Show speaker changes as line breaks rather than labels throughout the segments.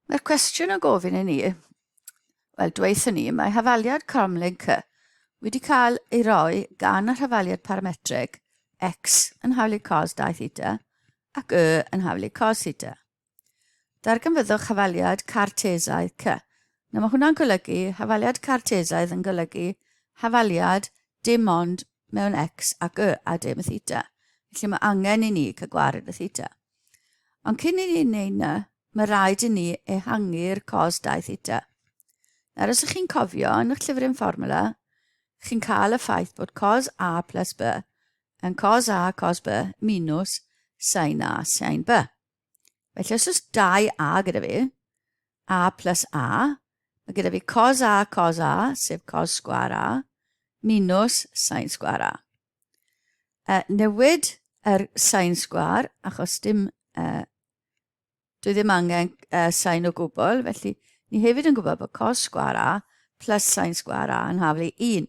Mae'r cwestiwn yn gofyn i ni, wel, dweithio ni, mae hafaliad Cromlink wedi cael ei roi gan y hafaliad parametreg x yn hawlu cos 2 theta ac y yn hawlu cos theta. Darganfyddwch hafaliad cartesaidd c. Nawr mae hwnna'n golygu, hafaliad cartesaidd yn golygu hafaliad dim ond mewn X ac Y a dim y theta. Felly mae angen i ni cael gwared y theta. Ond cyn i ni wneud na, mae rhaid i ni ehangu'r cos 2 theta. Nawr, os ych chi'n cofio, yn eich llyfr yn fformula, chi'n cael y ffaith bod cos A plus B yn cos A cos B minus sin A sin B. Felly os oes 2a gyda fi, a plus a, mae gyda fi cos a cos a, sef cos sgwar a, minus sain sgwar a. Uh, newid yr sain sgwar, achos dim, uh, dwi ddim angen uh, sain o gwbl, felly ni hefyd yn gwybod bod cos sgwar a plus sain sgwar a yn haflu 1.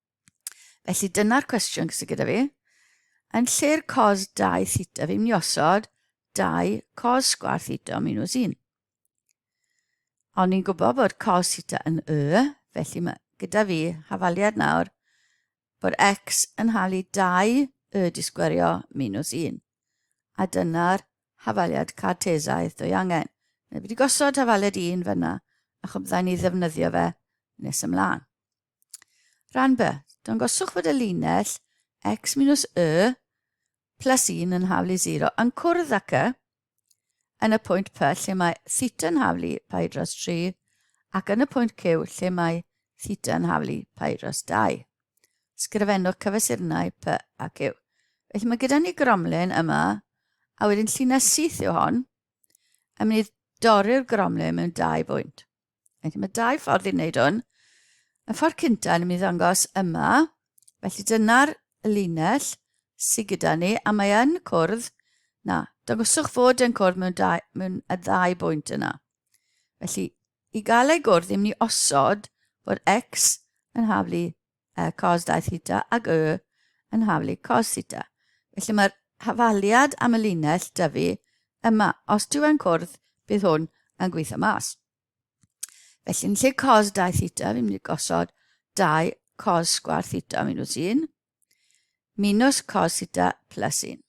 Felly dyna'r cwestiwn sydd gyda fi. Yn lle'r cos 2 theta, fi'n mynd i osod 2 cos sgwar theta o minus 1. Ond ni'n gwybod bod cos theta yn y, felly mae gyda fi hafaliad nawr bod x yn halu 2 y disgwerio minus 1. A dyna'r hafaliad cartesaidd dwy angen. Neu wedi gosod hafaliad 1 fyna, a chwbdda ni ddefnyddio fe nes ymlaen. Rhan B. Dangoswch fod y linell x minus y plus 1 yn haflu 0 yn cwrdd ac y yn y pwynt P lle mae theta yn haflu pi dros 3 ac yn y pwynt Q lle mae theta yn haflu pi dros 2. Sgrifennwch cyfesurnau P a Q. Felly mae gyda ni gromlin yma, a wedyn llinell syth yw hon, a mynd i dorri'r gromlin mewn dau bwynt. Felly mae dau ffordd i wneud hwn. Y ffordd cyntaf yn mynd i ddangos yma. Felly dyna'r linell sydd gyda ni, a mae yn cwrdd, na, dangoswch fod yn cwrdd mewn, dau, mewn y ddau bwynt yna. Felly, i gael ei gwrdd, ddim ni osod fod x yn haflu uh, cos dau theta ag y yn haflu cos theta. Felly mae'r hafaliad am y linell dyfu yma. Os dyw e'n cwrdd, bydd hwn yn gweithio mas. Felly yn lle cos dau theta, fi'n mynd i gosod dau cos sgwar theta minus un, minus cos theta plus un.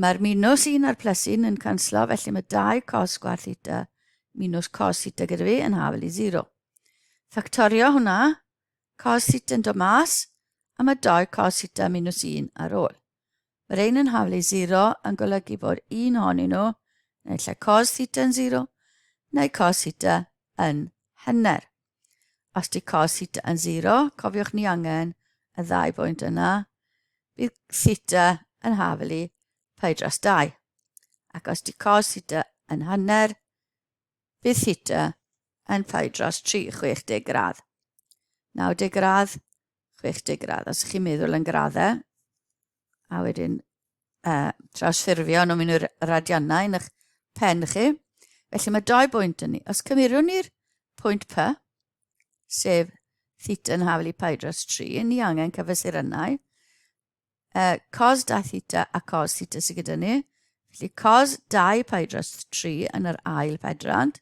Mae'r minws un a'r plus un yn canslo, felly mae dau cos gwaith theta minws cos theta gyda fi yn hafel i 0. Ffactorio hwnna, cos theta yn dod mas, a mae dau cos theta minws un ar ôl. Mae'r ein yn hafel i 0 yn golygu bod un honyn nhw, neu lle cos theta yn 0, neu cos theta yn hynner. Os di cos theta yn 0, cofiwch ni angen y ddau bwynt yna, bydd theta yn hafel i pi dros 2. Ac os di cos theta yn hanner, bydd theta yn pi dros 3, 60 gradd. 90 gradd, 60 gradd. Os ydych chi'n meddwl yn graddau, a wedyn uh, trawsffurfio nhw'n mynd i'r radiannau yn eich pen chi. Felly mae dau bwynt yn ni. Os cymeriwn ni'r pwynt P, sef theta yn hafel i pi dros 3, ni angen cyfesurynau. Uh, cos 2 theta a cos theta sydd gyda ni. Felly cos 2 pi dros 3 yn yr ail pedrand.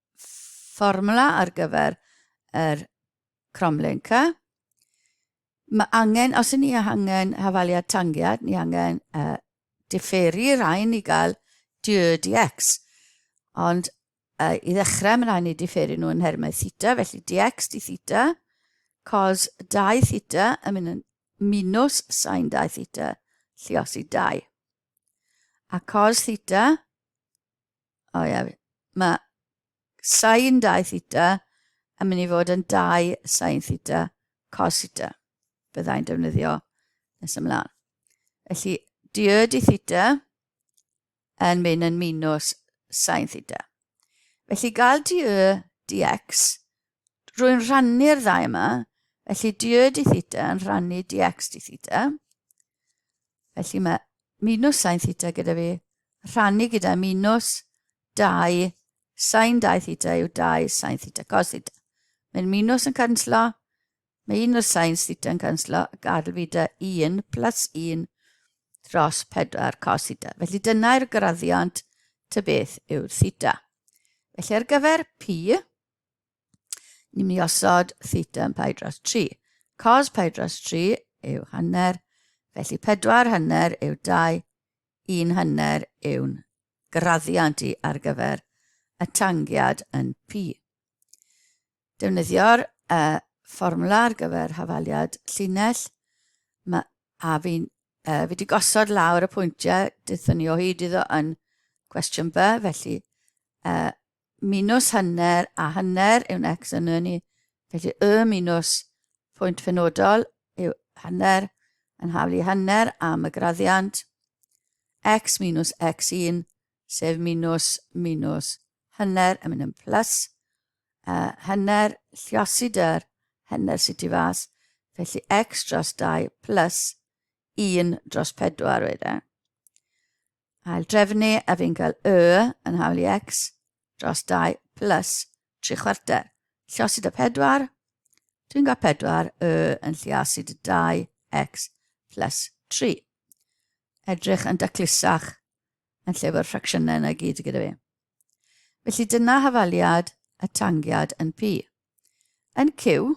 fformwla ar gyfer yr cromlenca. Mae angen, os ni angen hafaliad tangiad, ni angen uh, differi rhain i gael diod i x. Ond uh, i ddechrau, mae'n rhaid ni differi nhw yn hermau theta, felly dx di theta, cos 2 theta yn mynd yn minus sain 2 theta, lliosi 2. A cos theta O ia, mae sain dau theta yn mynd i fod yn dau sain theta cos theta. Byddai'n defnyddio nes ymlaen. Felly, diod i theta yn mynd yn minus sain theta. Felly, gael di y dx rwy'n rhannu'r ddau yma, felly dy di theta yn rhannu dx di theta. Felly mae minus sain theta gyda fi, rhannu gyda minus 2 sain 2 theta yw 2 sain theta cos theta. Mae'n minus yn canslo, mae un o'r sain theta yn canslo, a gadael fi da 1 plus 1 dros 4 cos theta. Felly dyna'r graddiant ty beth yw'r theta. Felly ar gyfer P, Ni'n mynd i osod theta yn pai dros 3. Cos pai dros 3 yw hanner, felly 4 hanner yw 2, 1 hanner yw'n graddiant i ar gyfer y tangiad yn pi. Defnyddio'r uh, fformwla ar gyfer hafaliad llinell, mae a fi'n uh, fi wedi gosod lawr y pwyntiau dython ni o hyd iddo yn cwestiwn B, felly uh, minws hanner a hanner yw'n x yn y ni. Felly y minws pwynt fenodol yw hanner yn haflu hanner am y graddiant x minws x1 sef minws minws hanner yn mynd yn plus uh, hanner lliosi dyr hanner sydd ti fas felly x dros 2 plus 1 dros 4 wedyn. Ail drefnu a fi'n cael y yn hawl i x dros 2 plus 3 chwarter. Llosi dy 4. Dwi'n cael 4 y yn lliasu dy 2 x plus 3. Edrych yn daclusach yn lle fo'r ffracsiynau yna gyd gyda fi. Felly dyna hafaliad y tangiad yn pi. Yn cyw,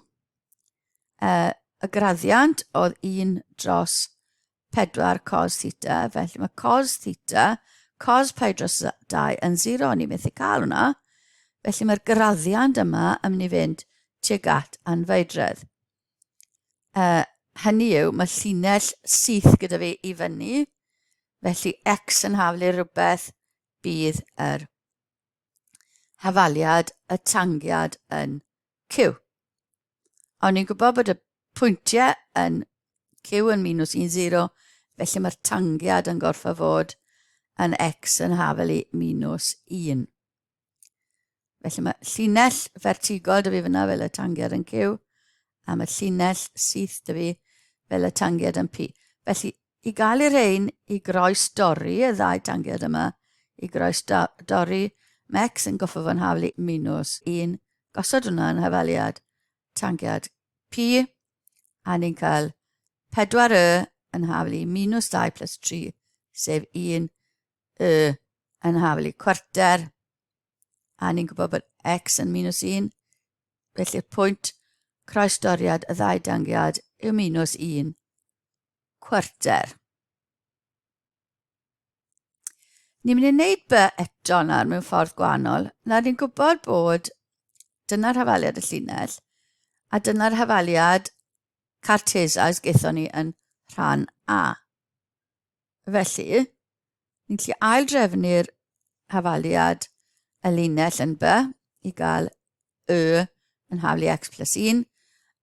uh, y graddiant oedd 1 dros 4 cos theta, felly mae cos theta, cos pi dros 2 yn 0, ni methu cael hwnna. Felly mae'r graddiant yma yn mynd i fynd tuag at anfeidredd. Uh, hynny yw, mae llinell syth gyda fi i fyny, felly x yn haflu rhywbeth bydd yr hafaliad y tangiad yn Q. Ond ni'n gwybod bod y pwyntiau yn Q yn minus 1, 0, felly mae'r tangiad yn gorffa fod yn X yn hafel i minus 1. Felly mae llinell fertigol dy fi fyna fel y tangiad yn Q, a mae llinell syth dy fi fel y tangiad yn P. Felly, I gael y rhein i groes dorri, y ddau dangiad yma, i groes do, dorri, Mex yn goffo fo'n hafl i minws. Un, gosod hwnna yn hafaliad, tangiad P, a ni'n cael 4 y yn hafl i minws 2 plus 3, sef 1 y yn hafl i cwarter, a ni'n gwybod bod x yn minws 1, felly'r pwynt croes doriad y ddau dangiad yw minws 1. cwarter. Ni'n mynd i wneud by eto nawr mewn ffordd gwahanol. Nawr ni'n gwybod bod dyna'r hafaliad y llinell a dyna'r hafaliad Cartesa ys gaethon ni yn rhan A. Felly, ni'n gallu aildrefnu'r hafaliad y linell yn by i gael y yn haflu x plus 1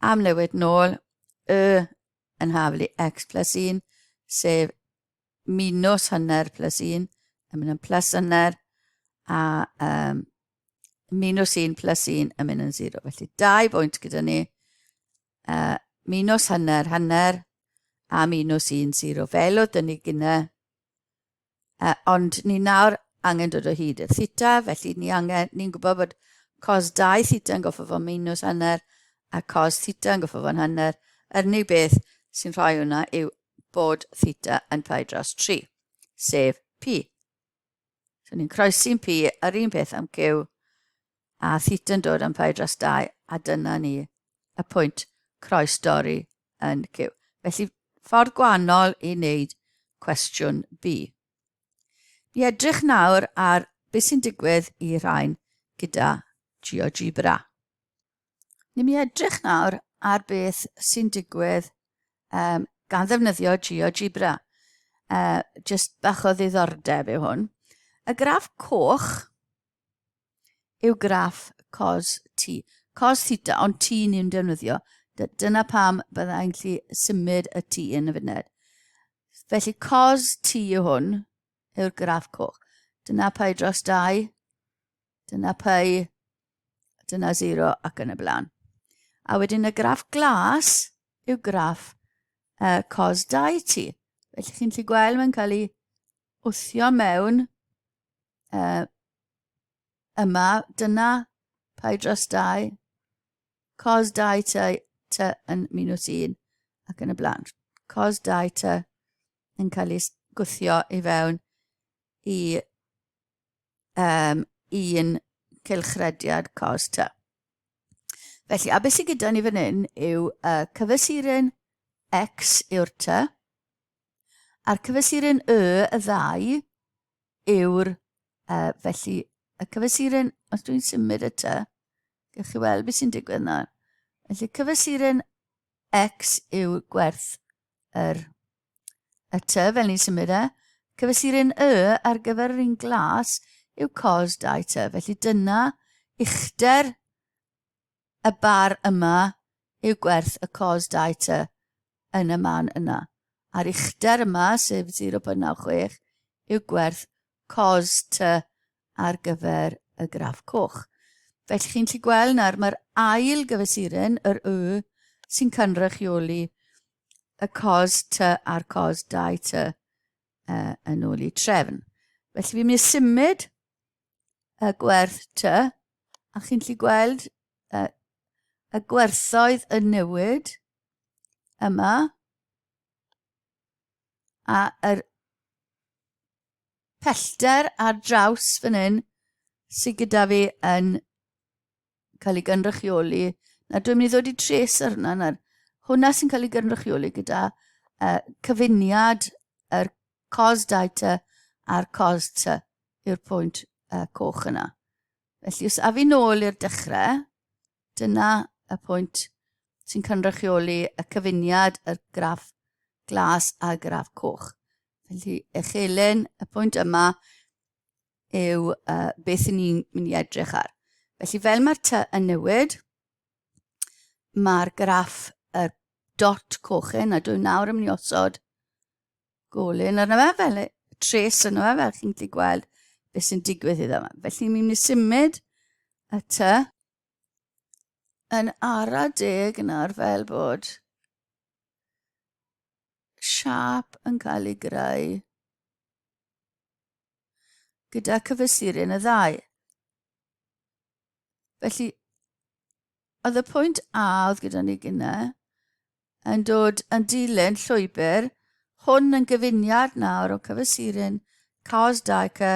am newid nôl y yn haflu x plus 1, sef minus hanner plus 1, yn mynd yn plus hanner, a um, minus 1 plus 1 yn mynd yn 0. Felly, dau bwynt gyda ni, uh, minus hanner, hanner, a minus 1, 0. Fel oedd dyn ni gyda Uh, ond ni nawr angen dod o hyd i'r theta, felly ni angen, ni'n gwybod bod cos 2 theta yn goffo fod minus hanner a cos theta yn goffo fod hanner. Yr unig beth sy'n rhoi hwnna yw bod theta yn pi dros 3, sef pi. So ni'n croesi'n pi, yr un peth am cyw, a thityn dod am fai dros dai, a dyna ni, y pwynt, croes dorri yn cyw. Felly, ffordd gwannol i wneud cwestiwn B. Mi edrych nawr ar beth sy'n digwydd i rhain gyda GeoGebra. Ni mi edrych nawr ar beth sy'n digwydd um, gan ddefnyddio GeoGebra. Uh, just bach o ddiddordeb yw hwn. Y graff coch yw graff cos t, cos theta, ond t ni'n ni'n defnyddio. Dyna pam bydda i'n gallu symud y t yn y funed. Felly cos t yw hwn, yw'r graff coch. Dyna pai dros 2, dyna pai, dyna 0 ac yn y blaen. A wedyn y graff glas yw graff uh, cos 2 t. Felly chi'n gallu gweld mae'n cael ei wthio mewn uh, yma, dyna pai dros dau, cos dau ty, ty yn minws un ac yn y blaen. Cos dau ty yn cael ei gwthio i fewn i um, un cylchrediad cos ty. Felly, a beth sydd gyda ni fan hyn yw uh, cyfesurin x yw'r ty, a'r cyfesurin y y ddau yw'r... Uh, felly, y cyfesuren, os dwi'n symud y ty, gych chi weld beth sy'n digwydd nawr. Felly, cyfesuren X yw gwerth yr, y ty, fel ni'n symud e. Cyfesuren Y ar gyfer yr un glas yw cos dau ty. Felly, dyna uchder y bar yma yw gwerth y cos dau ty yn y man yna. A'r uchder yma, sef 0.96, yw gwerth cos ty ar gyfer y graff coch. Felly chi'n lli gweld nawr mae'r ail gyfesuren, yr y, sy'n cynrychioli y cos ty a'r cos dau ty uh, yn ôl i trefn. Felly fi'n mynd i symud y gwerth ty, a chi'n gallu gweld y, y gwerthoedd yn newid yma, a yr pellter ar draws fan hyn sydd gyda fi yn cael ei gynrychioli. Na, dwi'n mynd i ddod i tres ar hwnna. Na, hwnna sy'n cael ei gynrychioli gyda uh, cyfuniad yr cos data a'r cos ty yw'r pwynt uh, coch yna. Felly, os afi nôl i'r dechrau, dyna y pwynt sy'n cynrychioli y cyfuniad y graff glas a graff coch. Felly, echelen y pwynt yma yw uh, beth i ni'n mynd i edrych ar. Felly fel mae'r ty yn newid, mae'r graff y dot coch hyn, a dwi'n nawr yn mynd i osod golyn arno fe, fel e, tres arno fe, fel chi'n gallu gweld beth sy'n digwydd iddo fe. Felly mi'n mynd i symud y ty yn ara deg yn ar fel bod siap yn cael ei greu gyda cyfesurin y ddau. Felly, oedd y pwynt A oedd gyda ni gyna yn dod yn dilyn llwybr hwn yn gyfuniad nawr o cyfesurin cos dau cy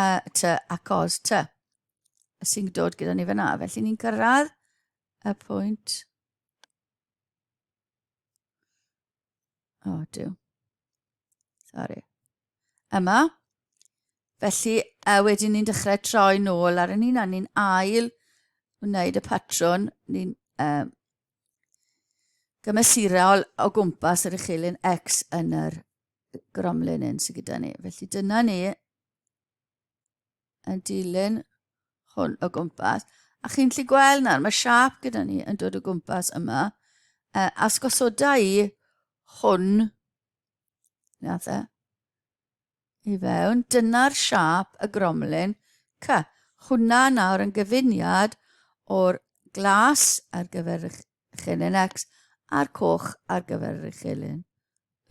a ty a cos ty sy'n dod gyda ni fyna. Felly ni'n cyrraedd y pwynt O, oh, diw. Sorry. Yma. Felly, uh, wedyn ni'n dechrau troi nôl ar y ni'n a ni'n ail wneud y patrwn. Ni'n um, gymesurol o gwmpas yr uchelyn X yn yr gromlin un sydd gyda ni. Felly dyna ni yn dilyn hwn o gwmpas. A chi'n lli gweld nawr, mae siap gyda ni yn dod o gwmpas yma. Uh, a sgosoda i hwn, nath e, i fewn. Dyna'r siap y gromlin. Ca, hwnna nawr yn gyfuniad o'r glas ar gyfer eich chelyn X a'r coch ar gyfer eich chelyn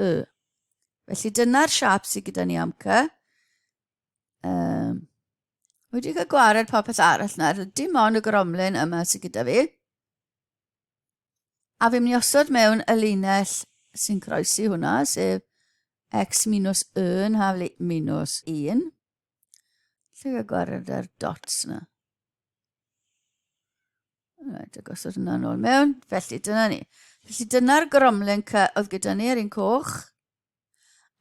Y. Felly dyna'r siap sydd gyda ni am cy. Um, wedi cael gwared popeth arall nawr. Dim ond y gromlin yma sy'n gyda fi. A fi'n mynd i osod mewn y linell sy'n croesi hwnna, sef x minus 1 haf minus 1. Lle gael gwared ar dots yna. Rhaid y gosod hwnna nôl mewn. Felly, dyna ni. Felly, dyna'r gromlin oedd gyda ni ar un coch.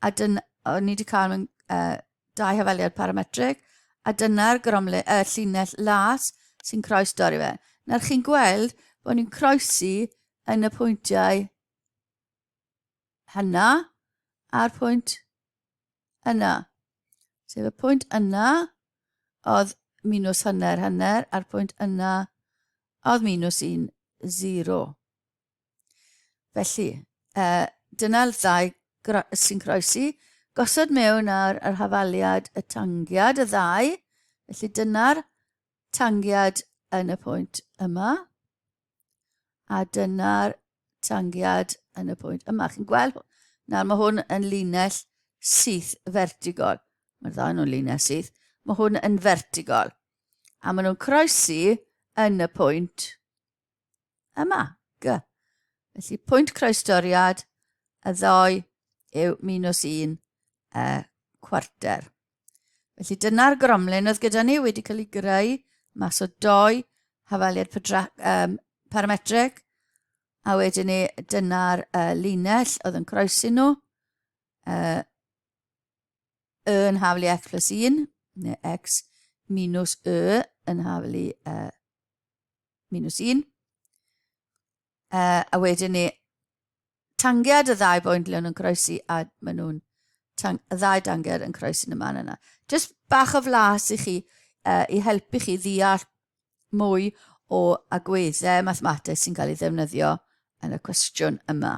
A dyn, o, ni wedi cael mewn uh, dau hafaliad parametrig, a dyna'r gromle, uh, llinell las sy'n croes dorri fe. Nawr chi'n gweld bod ni'n croesi yn y pwyntiau hynna a'r pwynt yna. Sef y pwynt yna oedd minus hanner hanner a'r pwynt yna oedd minus 1, 0. Felly, uh, dyna'r ddau sy'n croesi. Gosod mewn ar yr hafaliad y tangiad y ddau. Felly dyna'r tangiad yn y pwynt yma. A dyna'r tangiad yn y pwynt yma. Chi'n gweld? Nawr mae hwn yn linell syth fertigol. Mae'r ddau nhw'n linell syth. Mae hwn yn fertigol. A maen nhw'n croesi yn y pwynt Yma, G. Felly pwynt croestoriad y ddoi yw minus un y cwarter. Felly dyna'r gromlin oedd gyda ni wedi cael ei greu mas o doi hafaliad um, parametreg a wedyn ni dyna'r uh, linell oedd yn croesi nhw uh, yn haflu x plus 1 neu x minus y yn haflu uh, minus 1. Uh, a wedyn ni, tangiad y ddau boen lle nhw'n croesi a maen nhw'n y ddau dangiad yn croesi yn y man yna. Just bach o flas i chi, uh, i helpu chi ddeall mwy o agweddau mathemateg sy'n cael ei ddefnyddio yn y cwestiwn yma.